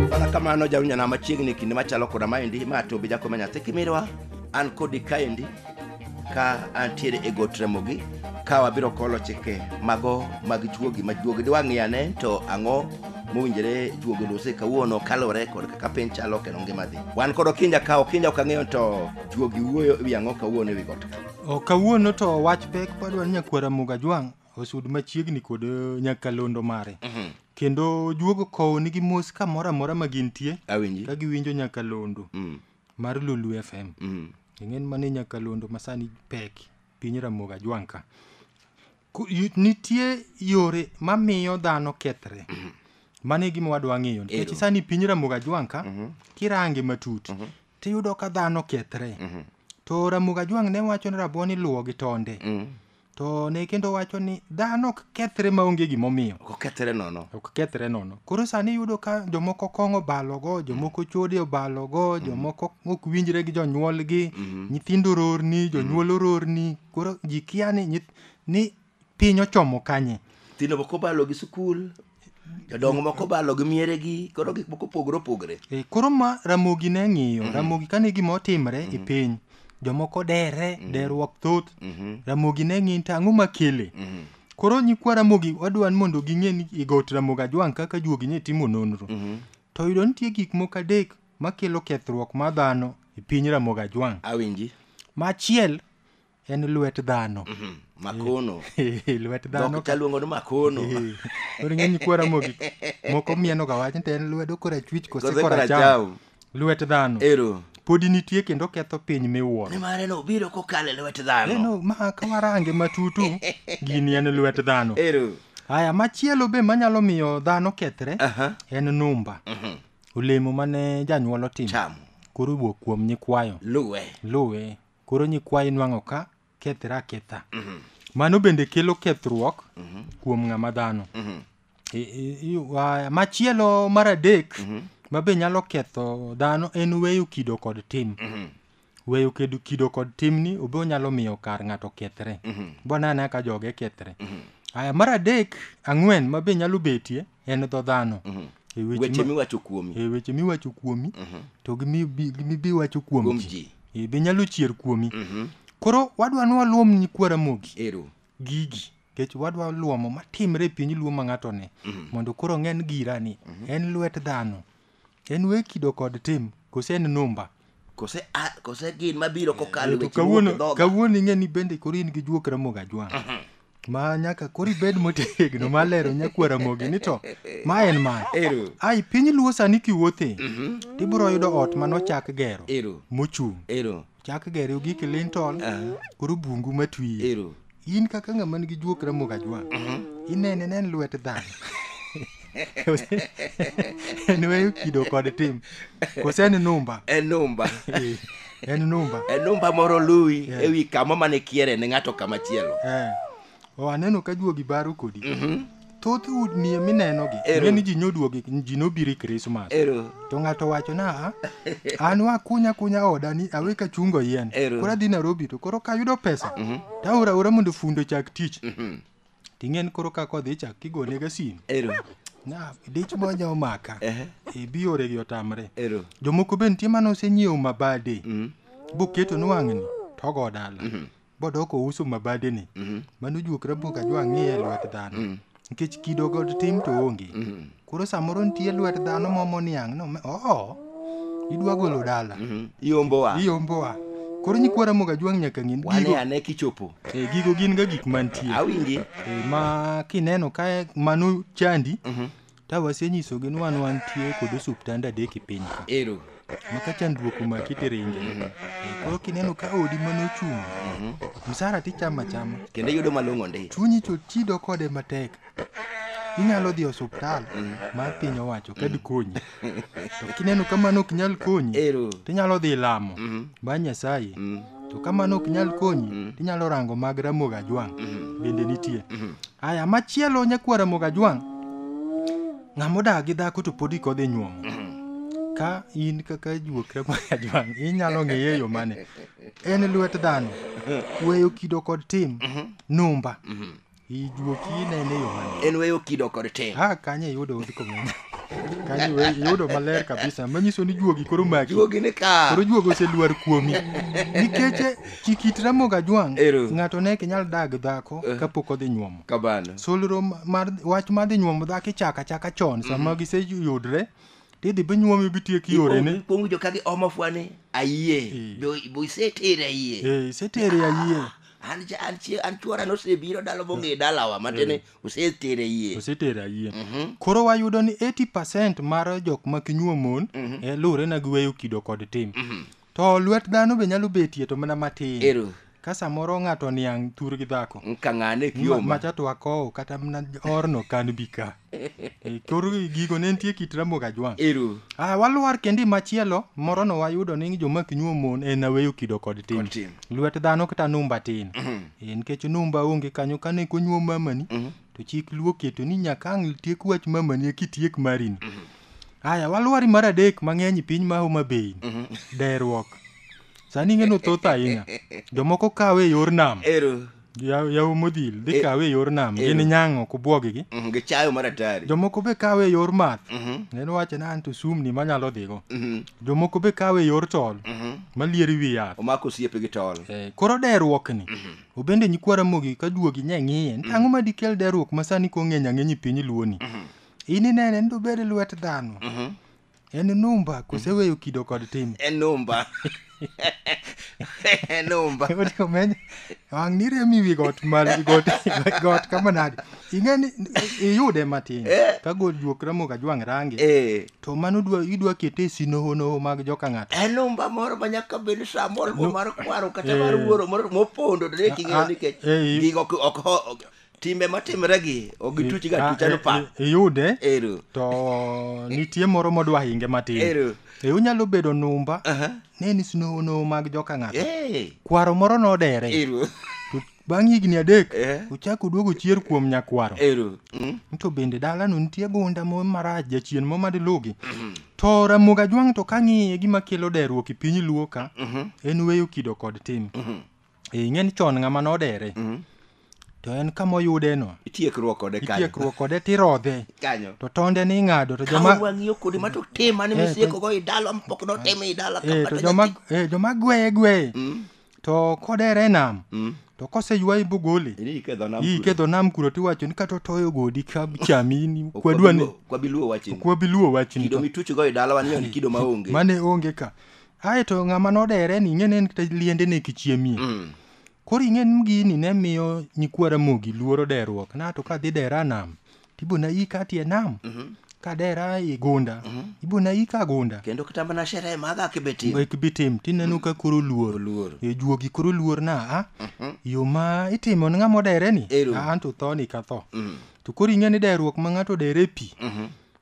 mana kamano jawinyana machiegni kinde machalo koda maendi ma to bija kome nyathi kimirwa an kodi kaendi ka antiere e got remogi ka wabiro kolo chike mago mag juogi ma juogi diwang'i ane to ang'o mowinjore juogi lose kawuono kalore kod kaka piny chalo kendo ngima dhi wan kod okinja ka okinja ok ang'eyo to Juogi wuoyo ewi ang'o kawuono ewi got ka? O, kawuono to wach pek padwa ni nyakwara Muga Jwang' osud machiegni kod eh, nyakalondo mare. Kendo juogo kowo nigi mos kamoro amora ma gintie Awinji. ka giwinjo nyakalondo Mm. mar Lulu FM. Mm. Ing'en mane nyakalondo masani pek piny Ramoga Jwang' ka. Ku- yu- Nitie yore mamiyo dhano kethre. Mane gima wadwa ng'eyo nikech Ero. sani piny Ramoga Jwang' ka kirange matut tiyudo ka dhano okethre mm-hmm. to Ramogi Ajwang' ne wacho ni rabuon iluwo gi tonde mm. to ne kendo wacho ni dhano ok kethre maonge gimomiyo ok kethre nono ok kethre nono koro sani iyudo ka jomoko kong'o balogo jomoko mm. chode obalogo mm. jomoko ok winjre gi jonyuolgi mm-hmm. nyithindo rorni jonyuol mm. ororni koro ji kia ni ni piny ochomo kanye nyithindo moko balo gi sikul jodongo moko balo gi mieregi koro gik moko opogore opogore E, koro ma ramogi ne ng'iyo ramogi kane gima otimre e piny jomoko dere derruok thoth ramogi ne ng'iyo to ang'o makele koro nyikwa ramogi wadwa ni mondo ging'e ni i got ramogi ajwang' kaka juogi ne timo nonro to yudo nitie gik moko adek makelo kethruok mar dhano e piny ramogi ajwang' awinji machiel en lwet dhano mhm. makono lwet dhano ka luongo ni makono koro ng'eny kwara mogi moko mieno ga wach nte en lwedo kora chwich kose kora cham lwet dhano ero podi nitie kendo ketho piny miwuoro nimar en obiro kokalo e lwet dhano eno ma kawarange matutu gini en lwet dhano ero haya machielo be manyalo miyo dhano kethre uh -huh. en numba uh mhm. -huh. olemo mane janyuol otimo koro wuok kuom nyikwayo luwe luwe koro nyikwayi nwang'o ka kethre aketha mano bende kelo kethruok kuom ng'ama dhano I- i- i- wa- machielo mar adek ma be nyalo ketho dhano en weyo kido kod tim weyo kedo- kido kod timni obe onyalo miyo kar ng'ato kethre bonane ka joge kethre aya mar adek ang'wen ma be nyalo betie en dho dhano E weche weche ma- miwacho kuomi e weche miwacho kuomi to gi mi- bi- gi mi- biwacho kuom kuom ji ji E, be nyalo chier kuomi koro wadwa ni waluom nyikwa ramogi ero gigi kech wadwa luomo matimre e piny luo ma ng'ato ne mondo koro ng'en gira ni en lwet dhano En we kido kod tim, kose en numba. Kose, a, kose gin mabiro kokalo Eh, to weche kawuono mowuok e dhoga. kawuono ing'e ni bende koro in gi juok ramogi ajwang ma nyaka koro ibed motegno ma lero nyakwa ramogi ni to ma en ma Ero. ai piny luo sani kiwuothe tibiro yudo ot manochak gero Ero. mochung Ero. chak gere gi kilinton koro bungu matwi ero in kaka ng'ama nigi juok ramogo ajwa inene nen lwet dhano en weyo kido kod tim kose en numba enumba Eh, en numba enumba moro luwi Yeah. ewi kama mane kiere ne ng'ato kama chielo Eh, O aneno ka juogi baro kodi. Thoth udni minenogi, Ero. ng'e ni ji nyoduogi, ji nobiro e Krismas. Ero. To ng'ato wacho na, an wakunya kunya oda ni awe ka chungo yien. Ero. Koro adhi Nairobi to koro kayudo pesa, to aora aora mondo fundo chak tich. Ting'en koro ka kodhi chak kigone ga simu. Ero. Na, dich bonya omaka. Ehe. E biore gi otamre. Ero. Jomoko be nitie mane osenyiewo mabade. Boketo ni wang'ni, togo dala. bodok ouso mabadeni mm-hmm. mano juok rabuok ajwa ng'iye lwet dhano mm. nikech kido kod tim to onge mm-hmm. koro samoro nitie lwet dhano momo niang' no oo idwa golo dala mm-hmm. iombowa iombowa koro nyikwa ramoga jwang' nyaka ng'in wane ane kichopo e, gigo gin ga gik mantie awinji e, ma kineno ka mano chandi Tawe asenyisogi ni wan wantie kod osuptande adek e piny ka. Ero. Ma ka chandruok omaki tiringe. Eh, Koro kineno ka odi mane ochung', msara tichama chama. Kendo iyudo malong'o ndi. Chunyi to chido kode matek. Inyalo dhi e osuptal mar piny owacho ka dikonyi. To kineno ka mano ok nyal konyi, Ero. tinyalo dhi lamo. Ba Nyasaye. to ka mano ok nyal konyi Mm. tinyalo rango mag ramogi ajwang' Mhm. bende nitie Mhm. aya machielo nyakwar ramogi ajwang' ng'ama odak gi dhako to pod ik odhi nyuomo Mhm. ka in kaka juok ramogi ajwang' inyalo ng'eye e yo mane en lwet dhano weyo kido kod tim Mhm. numba Mhm. Ijuoki inene e yo mane? En weyo kido kod tim. Ah, kanye iyudo odhi komenda. Kanye iwe- iyudo maler kabisa. Manyiso ni juogi koro maki. Juogi ni ka. Koro juogi oseluar kuomi. Nikech eh, kikit Ramogi Ajwang' Ero. ng'ato ne ok nyal dag dhako Eh. kapok odhi nyuomo. Kabano. Solro ma- mar wach mar dhi nyuomo dhako ichako achaka chon sama giseyudre tidhi binyuomi bitiek yorene. Ikuongo jo ka gi omo fwani. Ayie. Bo- Bo isetere ayie. Eh, isetere ayie. an cha- an chie- an chuora nosebiro dalo mong'e dalawa matene osetere yie osetera yie Mhm. koro wayudo ni 80 mar jok ma kinyuo mon eh, luwore na giweyo kido kod tim to lwet dhano be nyalo betie to mana matin ero ka samoro ng'ato niang' thur gi dhako nkang'ane ma- kioma macha to akowo kata mana orno kan bika E kor gigo ne nitie kit Ramogi Ajwang'. Ero. Ah, walwar kendi machielo morono wayudo ni joma ok nyuom mon en aweyo kido kod tim. Kod tim. Lwet dhano kata numba tin. Eh, Nikech numba onge kanyo kane konyuom mamani to chik luo oketo ni nyaka ang' tiek wach mamani eki tiek marini. Aya, walwari mar adek mang'eny i piny ma Homa Bay. Deruok. Sani ing'e ni thoth ahinya. Jomoko kawe e yor nam. Ero. yawu modhil dhi e, kawe e yor nam e, gin nyango kubwogigi mhm, gi chayo mar atari jomoko be kawe e yor math mhm. neno wache na anto sumni manyalo dhigo mhm. jomoko be kawe e yor tol malieri wi yath omako osiepe gi tol koro deruok ni obende nyikwara mogi ka duogi nye ng'iye ntango ma dikel deruok ma sani kong'eny ang'eny piny luoni in inene ni dobed lwet dhano en numba koseweyo kido kod tim enumba enumba Odiko menyo wang' ni remi wi got malo wi got wi got kama nadi ing'e ni iyude matin ka gol juok ramogi ajwang' rangi Eh, to mano dwa idwa kete e sinohonoho mag joka ng'ato enumba moro ma nyaka bed sa moro mar kwaro kata mar wuoro moro mopondo to ne king'eyo nikech Eh, eh. gigo ok- ok ho- timbe matimre gi ok gituch ga tucha no pa iyude ero to nitie moro modwa hinge matin ero e unyalo bedo numba aha ne ni snow no mag joka ng'ato eh kwaro moro nodere ero to bang' higni adek Eh. uchako duogo chier kuom nyakwaro ero Mm. to bende dalano nitie gunda mo marach jachien mo madilugi to ramogi ajwang' to kang'iye gima kelo deruok e piny luo ka en weyo kido kod tim Eh, ing'e ni chon ng'ama nodere mm. to en kama oyude no itiekruok kode kanyo itiekruok kode tirodhe kanyo to tonde ni ing'ado to joma wang'iyo kode ma to tema ni eh, misieko go idalo mpok no tema idala eh, to joma eh, joma gweye gweye mm. to kodere nam mm. to kose ywayi bogole ikedho nam kuro tiwacho ni kata otoyo godi chamini kwadwani kwabiluo wachini kido mituchgo e dalawa ni kido maonge mane onge ka ae to ng'ama nodere ni ing'e ni en kata liende ne kichiemie Mm. koro ing'e ni gini ne miyo nyikwa ramogi luoro derruok na to kadhi dera nam tibona ika tie nam kadera i gunda ibona ika gunda kendo kata mana sherehe maga kibetim ek bitim tineno ka koro luor Oluor. e juogi koro luor na a yo ma itimo ni ng'ama odere ni Ero. a an to tho ni ka tho to koro ing'e ni derruok ma ng'ato dere e pi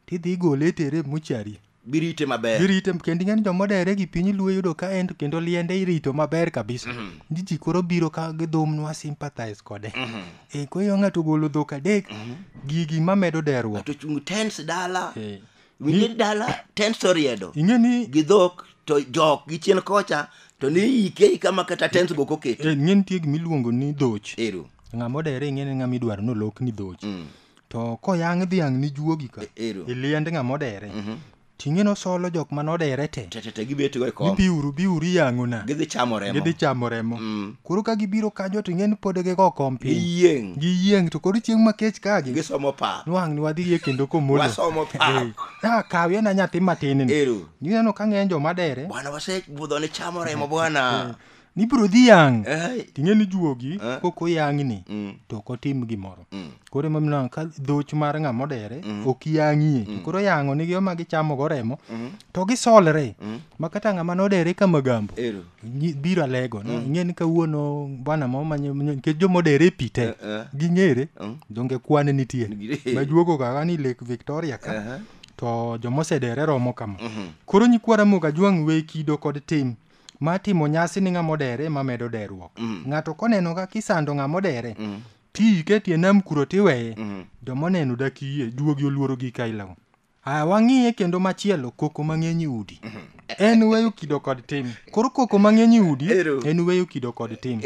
tidhi igole itere e muchari Girite maber. Girite kendo ing'eni joma odere gi piny luo yudo ka en kendo liende irito maber kabisa. Mm -hmm. Jiji koro biro ka gidhum nwa sympathize kode. Mm -hmm. E eh, koyo ng'ato golo dhok adek mm -hmm. gigi mamedo derruok. Ng'ato chung' tens dala. E. Eh. Winje dala tens oriedo. Ing'eni gi dhok to jok gi chien kocha to ni ike kama kata tens go koket. E, eh, ng'eni tie gimiluongo ni dhoch. Ero. Ng'ama odere ing'eni ng'ama idwaro nolok ni dhoch. Mm. To koyang' dhiang' ni juogi ka, E- ero. iliend ng'a modere. Mhm. Ting'e nosolo jok ma nodere te. Te te te gibet go e Ni kom. biuru, biuru iyang'ona. Gidhi chamo remo. Gidhi chamo remo. Mm. Koro ka gibiro kanyo to ing'e ni pod gigo kom piny. Giyieng'. Giyieng' to koro chieng' ma kech kagi. Gisomo pa. Nwang' ni wadhi e kendo komolo. Wasomo pa. Eh, Ah, kawie na nyathi matin ni. Ero. Nineno ka ng'eny joma dere. Bwana wasebudho ni chamo remo bwana. nibiro dhi yang' Ai. ting'e ni juogi Eh. kok oyang'ni Mm. to ok otim gimoro Mm. koro ema mineno ka dhoch mar ng'ama odere ok yang'ie to koro yang'o nigi oma gichamogo remo Mm. to gisolre Mm. ma kata ng'ama nodere ka magambo Ero. nyi- biro alego no ing'e ni kawuono bwana moro manye nikech joma odere e pi te Eh, eh. ging'ere Mm. donge kwane nitie Nigi- majuogo kaga ni lake victoria ka Aha. to joma osedere romo kama Mhm. koro nyikwa ramoga jwang' we kido kod tim ma timo nyasi ni ng'ama odere ema medo deruok mm. ng'ato koneno ka kisando ng'ama odere mm. ti iketi e nam kuro tiweye mm. joma oneno dak yie juogi oluoro gi ka ilawo aya wang'iye kendo machielo koko mang'eny e udi mm-hmm. en weyo kido kod tim koro koko mang'eny e udi en weyo kido kod tim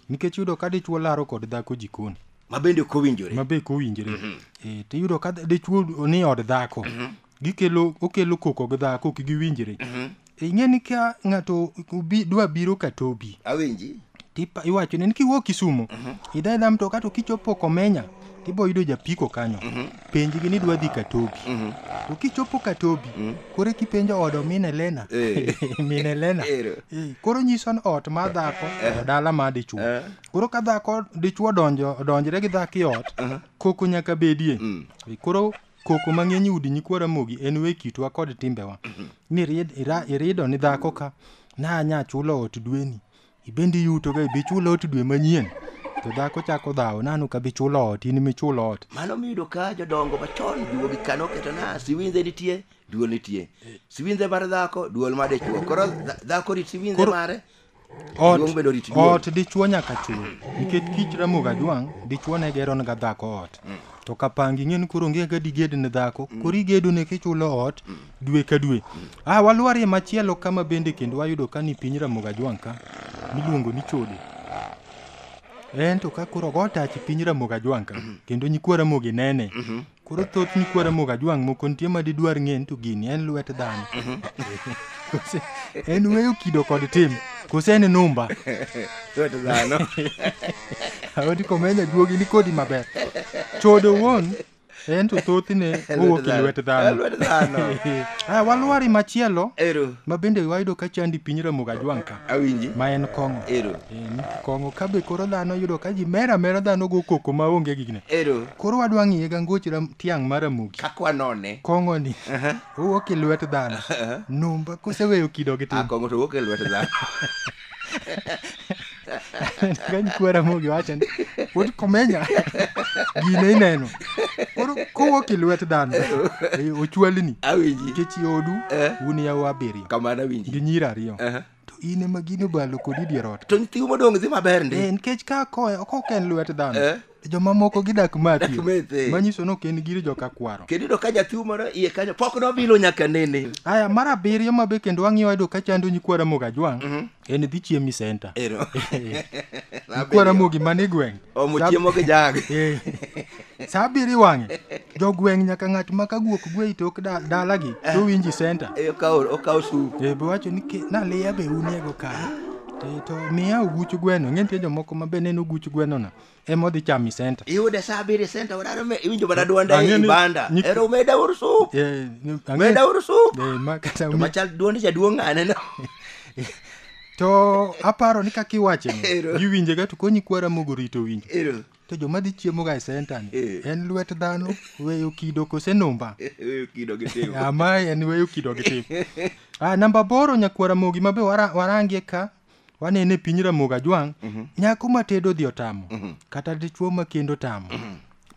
nikech yudo ka dichwo laro kod dhako jikoni mabende kowinjore mabe kowinjore mm-hmm. e, tiyudo ka dichwo ni od dhako mm-hmm. gikelo okelo koko gi dhako ok giwinjre ing'e ni ka ng'ato obi- dwa biro katobi awinji tipa iwacho ni kiwuok kisumo idha idha mtoka to kichopo komenya tibo yudo japiko kanyo penjgi ni dwa dhi katobi to kichopo katobi koro kipenjo odo min elena Eh. min elena Ero. Eh, koro nyiso ni ot ma dhako to dala ma dichuo Eh. koro ka dhako dichuo donjo odonjre gi dhako i ot koko nyaka bedie Eh, koro Koko ma ng'eny udi nyikwa Ramogi en we kitwa kod timbewa. Ni rid- ira- irido ni dhako ka na nya chulo ot dweni. Ibende iyuto ga ibi chulo ot dwe manyien. To dhako chako dhawo nanu ka bi chulo ot in mi chulo ot. Mano miyudo ka jodongo machon juogi kano keto na siwinze nitie, duol nitie. Siwinze mar dhako, duol mar dichwo. Koro dha- dhako rit siwinze Koro- mare, Ot, Duong' bedo rit duol. ot dichwo nyaka chul nikech kich ramoga jwang' dichwo ne gero ga dhako ot to kapangi ing'e ni koro onge ga diged ne dhako koro igedo ne kichulo ot dwe ka dwe ah walwarie machielo kama bende kendo wayudo ka ni piny ramoga jwang' ka miluongo ni chode en to ka koro ogo tach piny ramoga jwang' ka kendo nyikwa ramogi nene Koro thoth mikwara mok ajwang' moko nitie ma didwar ng'eyo ni to gini en lwet dhano. Kose en weyo kido kod tim. Kose en numba. Lwet dhano. Awodi komenya duogi ni kodi maber. Chodo wuon en to thothne owuok e lwet dhano. Lwet dhano. Ah, walwari machielo Ero. ma bende wayudo ka chandi piny Ramogi Ajwang' ka Awinji. ma en kong'o. Ero. Kong'o ka be koro dhano yudo ka ji mer amera dhano go koko ma onge gigine. Ero. Koro wadwa ng'iye ga ngoch ram tiang' mar amuki. Kaka wanone. Kong'o ni. Owuok e lwet dhano. Numba koseweyo kido gi tim. Ah, kong'o to owuok e lwet dhano. Gany kwara mogi wacho ni pod komenya gine ineno. Koro kowuok e lwet dhano. Ochwalni. Awinji. Nikech odu un yawa abiriyo. Kamano awinji. Gi nyira ariyo. to in ema gini obalo kodi dier ot to nyithiu modong' dhi maber ndi Eh, nikech ka koe ok ok en lwet dhano Eh. jomamoko gidak mati Dak mete. manyiso ni ok en giri joka kwaro kendo iyudo ka nyathiu moro iye kanyo pok nobilo nyaka nene aya mar abiriyo ma be kendo wang'iyo wayudo ka chando nyikwa ramogi ajwang' en dhi chiemi senta ero nyikwa ramogi man e gweng' omo chiemo gi jag Eh, saa abiriyo iwang'e jogweng' nyaka ng'at ma ka guok gwe i tok da- dalagi to winji senta Eh, okawo okawo sup Eh, be wacho ni ke- naliya be uniego kare to, to miya oguch gweno ng'e nitie jomoko ma be neno oguch gwenono ema odhi chamo i senta iyude saa abiriyo senta wadaro me iwinjo mana dwonda Ang'e ni- ibanda nyik- ero meda ur sup Eh, ni- ang'e- meda ur sup Eh, ma kata to mi- machal dwond jaduong' ng'ane no to aparo ni kaka iwacheni Ero. giwinjega to konyi kwara mogo rito winjo ero to joma dhi chiemoga e senta ni Eh. en lwet dhano weyo kido kose numba Weyo kido gi tim. ama en weyo kido gi tim ah, namba boro nyakuo ramogi mabe wara- warangie ka wanene piny ramogi ajwang' nyako matedo dhi otamo kata dichuo makendo tamo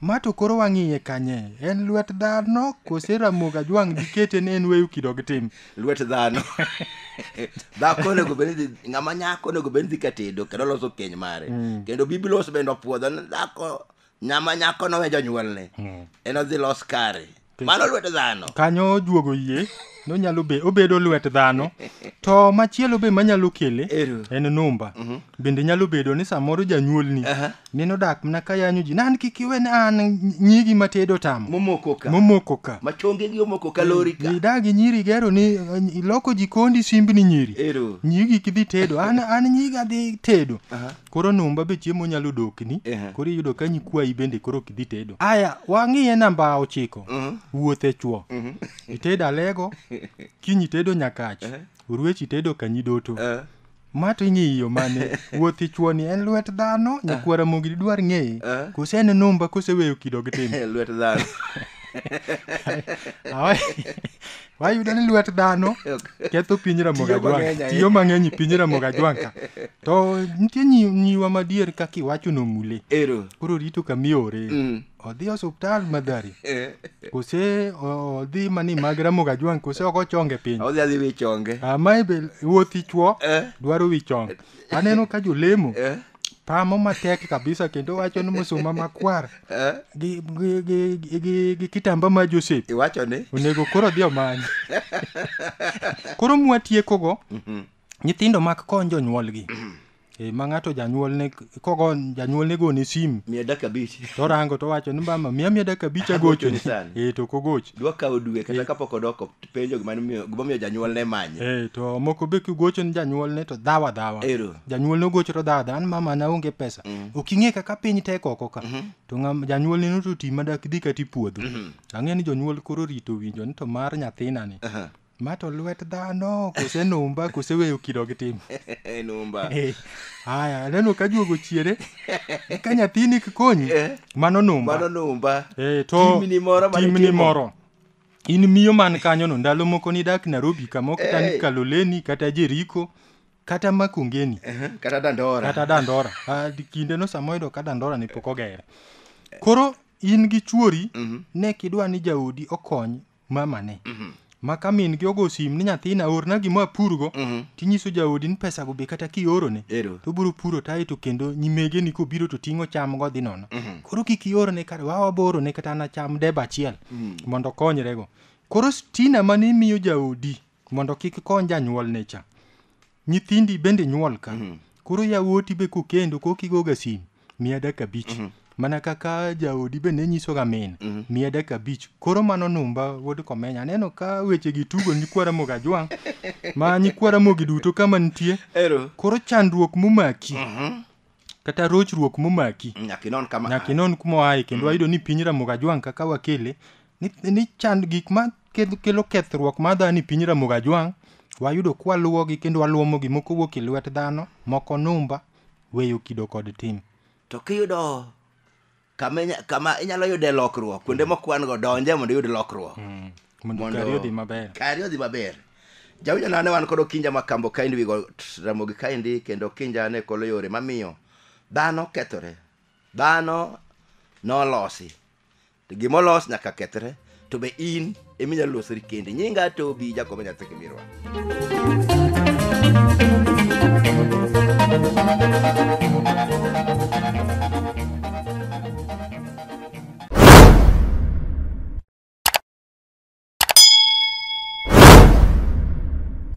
ma to koro wang'iye kanye en lwet dhano kose ramogi ajwang' dikete ni en weyo kido gi tim lwet dhano dhako onego bed ni dhi- ng'ama nyako onego bed ni dhi ka tedo kendo loso keny mare kendo biblos bende opuodho ni dhako nyama nyako nowe jonyuolne en odhi los kare mano lwet dhano kanyo ojuogo yie nonyalo be obedo lwet dhano to machielo be manyalo kele Ero. en numba bende nyalo bedo ni samoro janyuolni Aha. neno dak mana ka yanyo ji nan kik iwe ni an nyigi ma tedo tamo momoko ka momoko ka ma chongegi omoko ka lori ka idagi nyiri gero ni eh, iloko jikondi simbni nyiri ero nyigi kidhi tedo an an nyigi adhi tedo Aha. koro numba be chiemo nyalo dokni Ehe. koro iyudo ka nyikwayi bende koro ok idhi tedo aya wang'iye namba ochiko Mhm. wuoth e chwo itedo alego kiny itedo nyakach oruech itedo kanyidoto Eh. ma to ing'iyo mane wuothi chuoni en lwet dhano nyakuo ramogi didwar ng'eye Ah. kose en numba koseweyo kido gi tim lwet dhano Awa- wayudo ni lwet dhano ketho piny Tiyo ramogi ajwang mang'eny ahinya. tiyo mang'eny e piny ramogi ajwang ka to nitie nyi- nyiwa madier kaka iwacho nomule ero koro rito kamiore Mm. odhi osuptal madhari Eh, kose o- odhi mani mag ramoga jwang' kose ok ochonge piny odhi adhi wi chonge amae be wuothi chwo Eh. dwaro wi chong aneno ka jolemo Eh, pamo matek kabisa kendo wacho ni musuma makwar eh, gi, gi, gi, gi, gi, gi kitamba ma josep iwacho ni onego koro odhi omany koro mwatiekogo Nyithindo mak kony jonyuolgi. Eh, ma ng'ato janyuolne kogo janyuolne gone simu miya dakika abich torango towacho ni mama miya miya dakika abich agochoni sani. eh, to ok ogoch dwa kawo dwe Eh. kata kapok odoko penjo gima nomiyo- gimomiyo janyuolne manye Eh, to moko be kigocho ni janyuolne to dhawa dhawa Ero. janyuolne ogocho to dhawa dhawa ni mama na onge pesa ok ing'e kaka piny tek oko ka to ng'am- janyuolne no to ti madak dhi kata ipuodho ang'e ni jonyuol koro rito winjo ni to mar nyathinani Ma to lwet dhano kose numba kose weyo kido gi tim. numba Eh, Haya, aneno ka juogo chiere. Ka nyathini kikonyi, Eh. mano numba. mano numba Eh, to Timni moro mane timni itimo. moro. In miyo man kanyono ndalo moko nidak Nairobi kama ok tani Eh. Kaloleni kata Jeriko kata Makongeni Aha, kata dandora kata Dandora. Ah, di- Kindeno sama oyudo ka Dandora ne pok ogere. Koro in gi chuori Mhm. ne kidwa ni jaodi okony mamane Mhm. ma ka min gi ogo sim ni nyathina orna gima apurgo Mhm. tinyiso jaodi ni pesago be kata kiorone Ero. to obiro puro tae to kendo nyimege ni kobiro to ting'o cham go dhi nono Mhm. koro kik iorne kata wa waborone kata na cham deba achiel Mm. mondo okonyrego koro stina mane imiyo jaodi mondo kik kony janyuolne cha nyithindi bende nyuol ka mm. koro yawuoti be kokendo kokigoga sim miya dakika abich mm. mana kaka jaodi be ne nyisoga min mm -hmm. miya dakika abich koro mano numba wuod komenya aneno ka weche gi tugo nyikwara moga jwang' ma nyikwara mogi duto kama nitie koro chandruok momaki mm -hmm. kata rochruok momaki nyaka inon kama nyaka inon kuma oaye kendo wayudo ni piny ramogi ajwang' kaka wakele ni, ni chand gik ma keth- kelo kethruok ma dhano e piny ramogi ajwang' wayudo kwaluwogi kendo waluomogi moko wuok e lwet dhano moko numba weyo kido kod tim to kiyudo kama inya- kama inyalo yude lokruok kuonde mokwan go donje mondo iyud lokruok Mm. Mondo Mondo- kari odhi maber. kari odhi maber jawinjo nane wan kod okinja ma kambo kaendi wigo t- ramogi kaendi kendo okinja ne kolo yore mamiyo dhano kethore dhano nolosi To gimolos nyaka kethre to be in eminyalo losori kendi nyinga tobi jakobo nyathi kimirwa